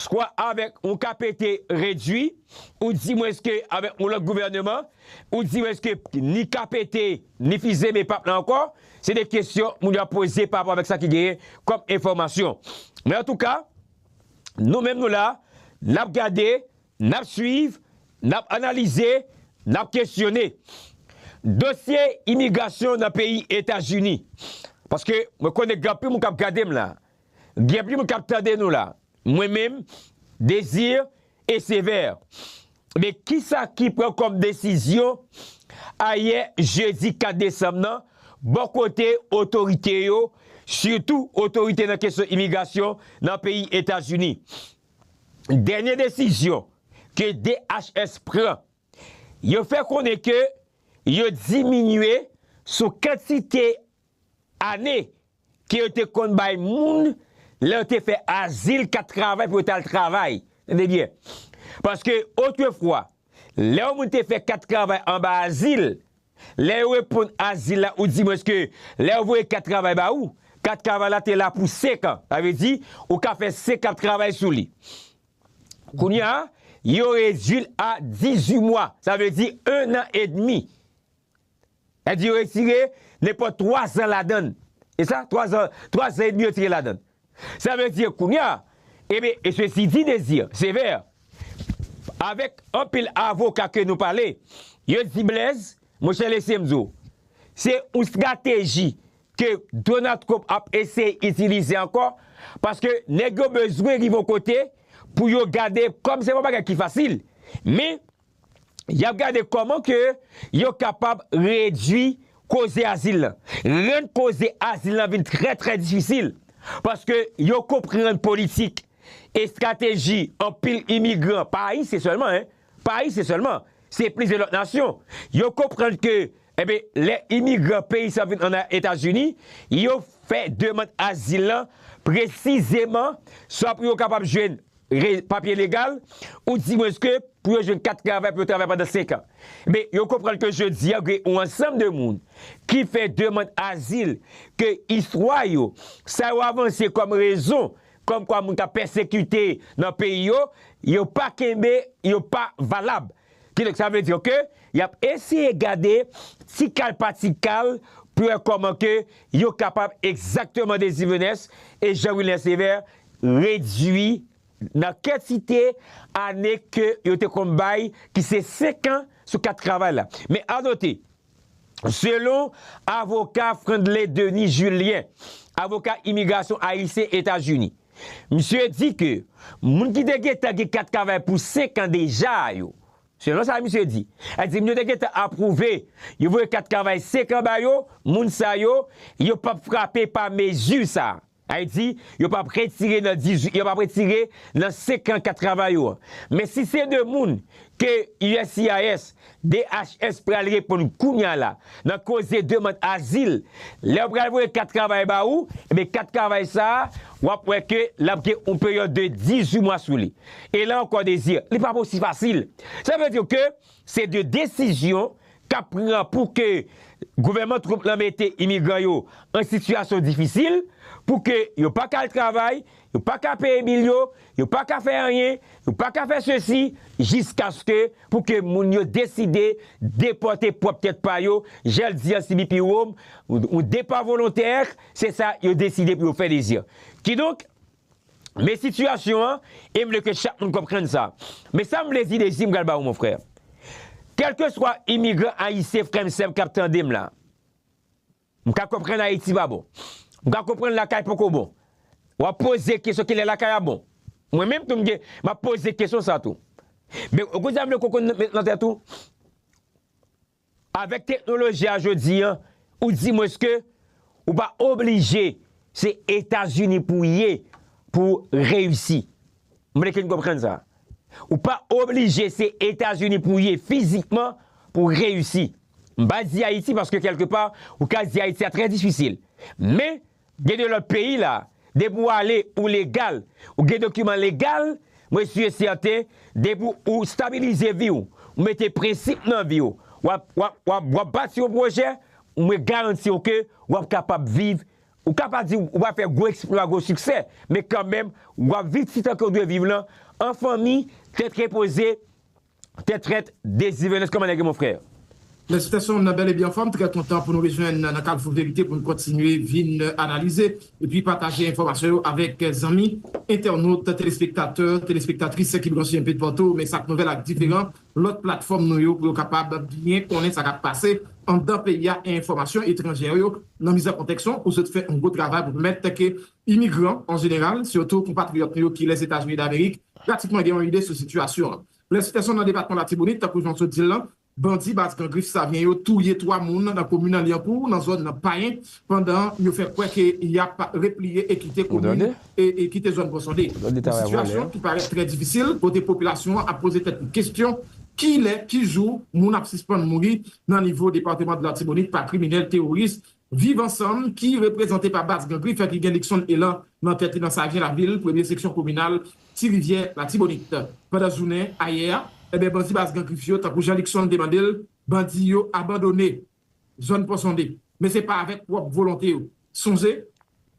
Swa avèk yon KPT redwi, ou dimwens ke avèk yon lòt gouvèneman, ou dimwens ke ni KPT, ni Fils-Aimé pap la ankò, se 2 kesyon moun yo ap poze pa rapò avèk sa ki genyen kòm enfòmasyon. Men antouka, nou menm nou la, n ap gade, n ap swiv, n ap analize, n ap kesyone. Dosye imigrasyon nan peyi Etazini, paske mwen konnen gen anpil moun k ap gade m la, Gen plim kap tande nou la. Mwen menm, Désir et Sévère. Men kisa ki pran kòm desizyon ayè jedi 4 desanm nan bò kote otorite yo, sitou otorite nan kesyon imigrasyon nan peyi Etazini. Dènye desizyon ke DHS pran, yo fè konnen ke yo diminye sou kantite ane ke yo te konn bay moun lè yo te fè azil, kat travay pou yo t al travay. Tande byen. Paske otrefwa, lè yon moun te fè kat travay anba azil, lè yo reponn azil la oudimwens ke lè yo voye kat travay ba ou, kat travay la te la pou 5 an. Sa vle di, ou ka fè 5 an travay sou li. Kounye a, yo redui l a 18 mwa. Sa vle di 1 an edmi. Èdi yo retire nenpòt 3 zan ladan l. E sa? 3 zan, 3 zan edmi yo retire ladan l. Sa vle di kounye a, eben, e sesi di Dezi, se vè, avèk anpil avoka ke nou pale, yo di Blèz, monchè lese m di w, se yon strateji ke Donald Trump ap eseye itilize ankò, paske nèg yo bezwen rive yon kote pou yo gade, kòm se pa yon bagay ki fasil, men, y ap gade kòman ke yo kapab redui koze azil lan, rann koze azil lan vin trè trè difisil, paske yo konprann politik, estrateji anpil imigran, pa ayisyen sèlman hein, pa ayisyen sèlman, se plizyè lòt nasyon, yo konprann ke enben lè imigran peyi sa vin an Etazini, yo fè demand azil lan presizeman swa pou yo kapab jwenn Re, Papye legal, ou di mwens ke pou yo jwenn kat travay pou yo travay pandan 5 an. Enben, yo konprann ke jodi a gen yon ansanm de moun ki fè demand azil ke istwa yo, sa yo avanse kòm rezon kòm kwa moun ta pèsekite nan peyi yo, yo pa kenbe, yo pa valab. Kidonk sa vle di ke y ap eseye gade ti kal pa ti kal pou wè kòman ke yo kapab egzakteman Désir Venès e Jean Wilner Sévère redwi nan kantite ane ke yo te konn bay ki se 5 an sou kat travay la. Men anote, selon avoka Frandley Denis Julien, avoka imigrasyon ayisyen Etazini, misye di ke moun ki te gentan gen kat travay pou 5 an deja yo, selon sa misye di, sa vle di moun yo te gentan apwouve, yo voye kat travay 5 an ba yo, moun sa yo, yo pap frape pa mezi sa. Ayiti, yo pap retire nan 18 yo pap retire nan 54 travay yo an. Men si se 2 moun ke uscis, DHS pral reponn kounya la nan koze demand azil, lè yo pral voye kat travay ba ou, ebyen kat travay sa a, w ap wè ke l ap gen yon peryòd de 18 mwa sou li. E la ankò Désir, li pap osi fasil. Sa vle di ke. Se 2 desizyon k ap pran pou ke gouvènman Trump lan mete imigran yo an sitiyasyon difisil, pou ke yo pa ka al travay, yo pa ka peye bil yo, yo pa ka fè anyen, yo pa ka fè sesi, jiskaske pou ke moun yo deside depòte pwòp tèt pa yo, jan l di an sibi pi wo, yon depa volontè, se sa yo deside pou yo fè, li di. Kidonk. Men sitiyasyon an e m vle ke chak moun konprann sa. Men sa m vle di Dezi m pral ba ou mon frè. Kèlkeswa imigran ayisyen frè m sè m k ap tande m la. M ka konprann Ayiti pa bon. M ka konprann lakay poko bon. W ap poze kesyon kilè lakay a bon. Mwen menm tou m gen m ap poze kesyon sa tou. Men ou konn sa m vle ke w konn nan tèt ou? Avèk teknoloji a jodi an, ou di mwens ke ou pa oblije se Etazini pou w ye pou w reyisi. M vle ke n konprann sa. Ou pa oblije se Etazini pou w ye fizikman pou w reyisi. M pa di Ayiti paske kèlke pa ou ka di Ayiti a trè difisil. Men. Gen de lot peyi la depi ou ale ou legal ou gen dokiman legal mwen su e sèten depi ou stabilize vi ou ou mete prensip nan vi ou wap bati yon pwojè mwen garanti ou ke wap kapab viv ou ka pa di ou pa fè gwo eksplwa gwo siksè men kan menm wap viv ti tan ke ou dwe viv lan an fanmi tèt repoze Tè trèt Deziré Nèst kòman nèg yo mon frère? Mèsi tè son'm nan bèl e byen anfòm, trè kontan pou nou rejwenn nan kalfou verite pou n kontinye vin analize epi pataje enfòmasyon yo avèk zanmi entènot, telespektatè, telespektatris ki branche enpe patou men sak nouvèl ak diferan lòt platfòm nou yo pou yo kapab byen konnen sa kap pase anndan peyi a enfòmasyon etranjè yo nan mizè kontèks ou sot fè yon gwo travay pou pèmèt ke Imigran an jeneral, sitou konpatriyòt nou yo ki Lèzetazini Damerik, pratikman gen yon ide sou sitiyasyon an. Plè Sitèson nan depatman Latibonit, tankou jan w sot di l lan, bandi baz Gran Grif Savyen yo touye 3 moun nan komin an Lyankou nan zòn nan Payen pandan yo fè kwè ke y ap repliye e kite komin e kite zòn Ponsonde. Yon sitiyasyon ki parèt trè difisil kote popilasyon an ap poze tèt li kesyon kilè, ki jou moun ap sispann mouri nan nivo depatman Latibonit pa kriminèl teworis Viv Ansanm, ki reprezante pa Baz Gangriff ki gen Luckson Elan nan tèt li nan Sajen Lavil, premye seksyon kominal Ti Rivyè Latibonit. Pandan jounen ayè a, enben bandi Baz Gangriff yo, tankou jan Luckson te mande l, bandi yo abandone zòn Ponsonde. Men se pa avèk pwòp volonte yo. Sonje,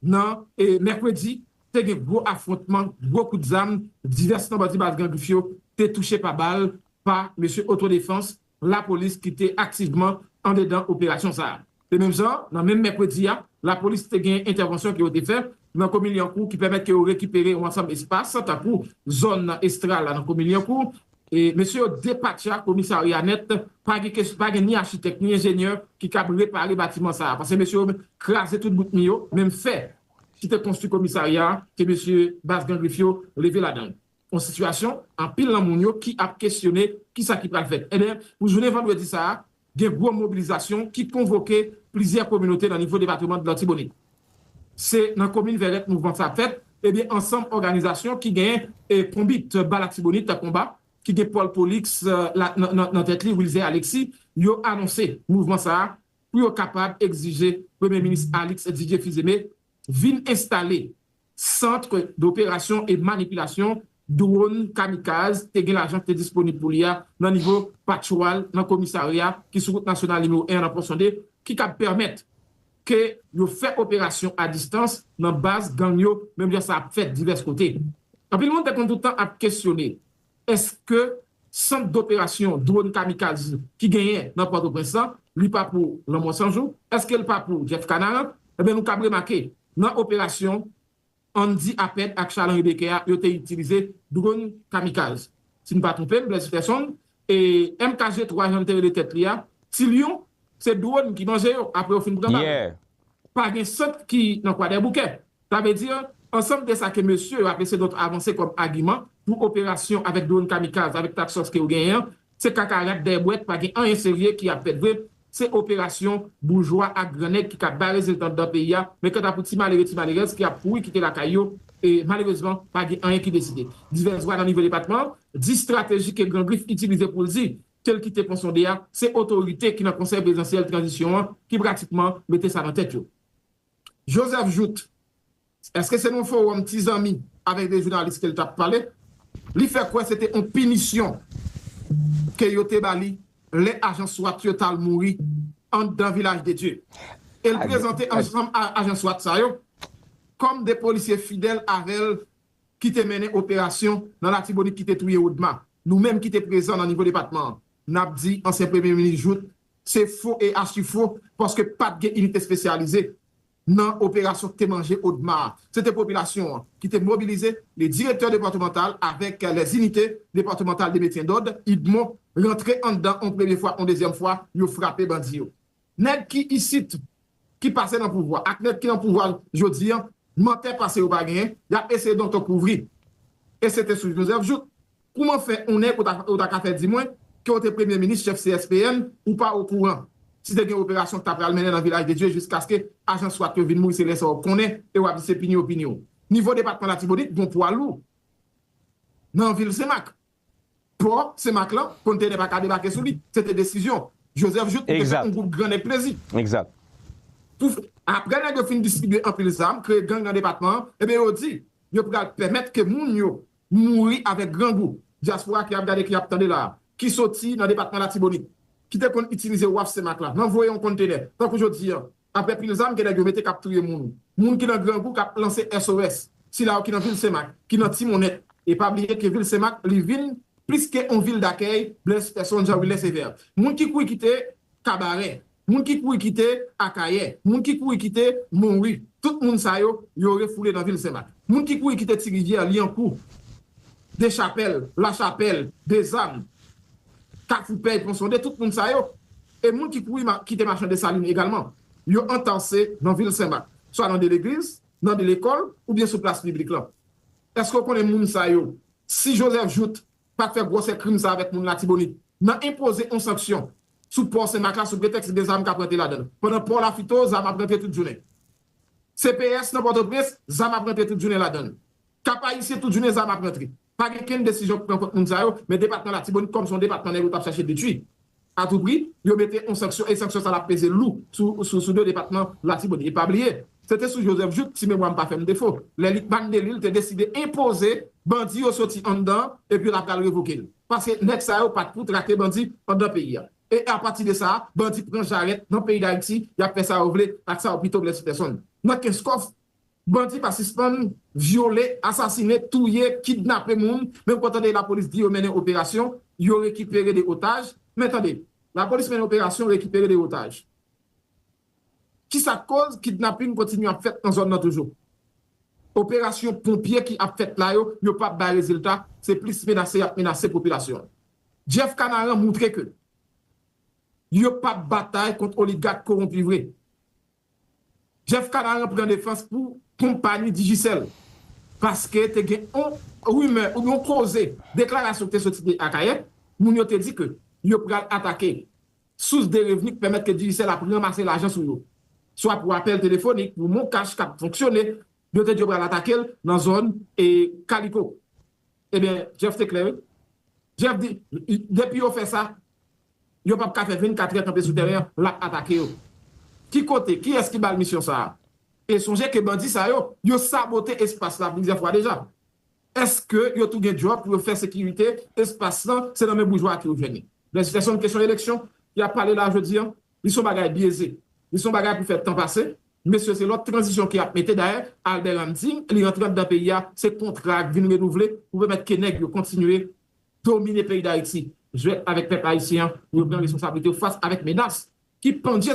nan mèkredi, te gen gwo afwontman, gwo kout zam, divès nan bandi Baz Gangriff yo te touche pa bal pa mesye otodefans lapolis ki te aktivman andedan operasyon sa a. E menm jan, nan menm mèkredi a, lapolis te gen entèvansyon ke yo te fè nan komin Lyankou ki pèmèt ke yo rekipere yon ansanm espas tankou zòn nan Estral la nan komin Lyankou. E mesye yo depatcha komisarya a nèt, pa gen kes, pa gen ni achitèk ni enjenyè ki kab repare batiman sa a paske mesye yo kraze tout bout mi yo, menm fè ki te konstwi komisarya a te mesye baz Gan Grif yo leve ladan l. On sitiyasyon anpil nan moun yo ki ap kesyone kisa ki pral fèt. Enben, pou jounen vandredi sa a, gen gwo mobilizasyon ki konvoke plizyè kominote nan nivo depatreman Latibonit. Se nan komin Vèrèt mouvman sa ap fèt, enben ansanm òganizasyon ki gen Konbit ba Latibonit konba, ki gen Pòl Polix nan tèt li, Wilzè Aleksi, yo anonse mouvman sa a pou yo kapab egzije Premye Minis Alix Didier Fils-Aimé vin enstale Centre d'opération et manipulation dwon kamikaz te gen lajan ki te disponib pou li a nan nivo Patchwal nan komisarya ki sou wout nasyonal nimewo 1 an nan Pòson 2 ki kab pèmèt ke yo fè operasyon a distans nan baz gang yo menm jan sa ap fèt divès kote. Anpil moun te konn tout tan ap kesyone Eske sant doperasyon dwon kamikaz ki genyen nan Pòtoprens lan, li pa pou Lanmò San Jou? Eske l pa pou Jeff Canaran? Enben nou kab remake, nan operasyon Andy Apert ak Charles Henri Becker a, yo te itilize dwon kamikaz. Si m pa twonpe m, Blaise Peterson, e MKG 3 jan l te rele tèt li a, Ti Lyon, se dwon ki manje yo apre yo fin prepare. Pa gen sant ki nan Kwadèboukè. Sa vle di, ansanm de sa ke mesye yo ap ese donk avanse kòm agiman pou operasyon avèk dronn kamikaz avèk task force ke yo genyen an, se kaka rat dèyè bwèt pa gen anyen serye ki ap fèt vre, se operasyon boujwa ak gran nèg ki ka bay rezilta anndan peyi a, men kanta pou ti malere ti malerèz ki ap kouri kite lakay yo, e malerezman pa gen anyen ki deside. Divès vwa nan nivo depatman an di strateji ke Gran Grif itilize pou l di ke l kite Pon Sonde a, se otorite ki nan Konsèy Prezidansyèl Tranzisyon an ki pratikman mete sa nan tèt yo. Joseph Jouthe, èske se nan yon fowòm ti zanmi avèk de jounalis ke li t ap pale, li fè kwè se te yon pinisyon ke yo te ba li lè ajan swat yo t al mouri anndan Vilaj de Dye e l prezante ansanm ajan swat sa yo kòm de polisye fidèl avè l ki te mennen operasyon nan Latibonit ki te touye Odma. Nou menm ki te prezan nan nivo depatman an. Nap di ansyen premye minis Jout se fo e achi fo paske pat gen inite spesyalize nan operasyon ki te manje Odma a. Se te popilasyon an ki te mobilize le direktè depatmantal avèk lè inite depatmantal de metyen dòd, idmo, rantre anndan on premye fwa, on dezyèm fwa yo frape bandi yo. Nèg ki isit ki pase nan pouvwa ak nèg ki nan pouvwa jodi an mantè pase yo pa genyen yap eseye donkè kouvri e se te sou Joseph Jouthe kouman fè on nèg ou ta ka fè di mwen ke ou te premye minis chèf CSPN ou pa okouran si te gen operasyon ki ta pral mennen nan Vilaj de Dye jiskaske ajan swat yo vin mouri se lè sa ou konnen e wap di se pini yo pini ou nivo depatman Latibonit gon pwa lou nan vil Senmak. Pò Senmak lan, konntenè pa ka debake sou li. Se te desizyon. Joseph Jouthe pou te fè yon gwoup gran nèg plezi. Egzat. Pou, apre nèg yo fin distribye anpil zam, kreye gang nan depatman an, ebyen yo di, yo pral pèmèt ke moun yo mouri avèk grangou, dyaspora ki ap gade, ki ap tande la a, ki soti nan depatman Latibonit, ki te konn itilize waf Senmak la, nan voye yon konntenè, tankou jodi an, Aprè pil zam gen nèg yo mete k ap touye moun. Moun ki nan grangou k ap lanse SOS. Sila yo ki nan vil Senmak, ki nan Timonèt. E pa bliye ke vil Senmak li vin plis ke on vil dakèy Blaise Persson Jean Wilès Evert. Moun ki kouri kite Kabarè. Moun ki kouri kite Akayè. Moun ki kouri kite Monwi. Tout moun sa yo, yo refoule nan vil Senmak. Moun ki kouri kite Tirivyè, Lyankou, Dechapèl, Lachapèl, Dezam, Kafoupèy, Ponsonde, tout moun sa yo. e moun ki kouri kite Machan Desalin egalman, yo antanse nan vil Sen Mak, swa nan de legliz, nan de lekòl oubyen sou plas piblik lan. Èske w konnen moun sa yo, si Joseph Jouthe pa t fè gwòsè krim sa avèk moun Latibonit nan enpoze on sanksyon sou pò Sen Mak la sou pretèks gen zam k ap rantre ladan l pandan pò Lafito zam ap rantre tout jounen, CPS nan Pòtoprens zam ap rantre tout jounen ladan l, Kap Ayisyen tout jounen zam ap rantre. Pa gen kenn desizyon ki pran kont moun sa yo, men depatman Latibonit kòm se yon depatman nèg yo t ap chache detui a tou pri, yo mete yon sanksyon e sanksyon sa l ap peze lou sou do depatman Latibonit. E pa bliye, se te sou Joseph Jouthe, si memwa m pa fè m defo, lè Lickman Delil te deside enpoze bandi yo soti anndan an epi l ap pral revoke l, paske nèg sa yo pa t pou trake bandi anndan peyi a. E apati de sa a, bandi pran jarèt nan peyi Dayiti, y ap fè sa yo vle ak sa yo pito Blessy Tèson nan Kenskòf Bandi pa sispann vyole, asasine, touye, kidnape moun, men ou pa tande lapolis di yo mennen operasyon, yo rekipere 2 otaj, men tande, lapolis mennen operasyon, rekipere 2 otaj. Ki sa k koz kidnapin kontinye ap fèt nan zòn nan toujou? Operasyon ponpye ki ap fèt la yo, yo pa bay rezilta, se plis menase y ap menase popilasyon an. Jeff Canaran moutre ke yo pa batay kont oligak kowonpi vre. Jeff Canaran pran defans pou konpayi Digicel paske te gen yon rimè oubyen yon koze deklarasyon ki te soti de Akayè, moun yo te di ke yo pral atake sous de revni ki pèmèt ke Digicel ap ranmase lajan sou yo, swa pou apèl telefonik, pou MonCash kap fonksyone. Yo te di yo pral atake l nan zòn Kaliko. Ebyen, Jeff te klè wi. Jeff di, depi yo fè sa, yo pap ka fè 24 trè kanpe sou tèren an, l ap atake yo. Ki kote, kiyès ki ba l misyon sa a? E sonje ke bandi sa yo, yo sabote espas la plizyè fwa deja. Èske yo tou gen djòb pou yo fè sekirite espas lan, se nan men boujwa ak yo vini? Blèz Fèson, kesyon eleksyon, y ap pale la jodi an. Li son bagay byeze. Li son bagay pou fè tan pase. Mesye se lòt tranzisyon ke yap mete dayè Albert an di li rantre andan peyi a se kontra ak vin renouvle pou pèmèt ke nèg yo kontinye domine peyi dayiti jwèt avèk pèp ayisyen an yo pran responsablite yo fas avèk menas ki pandye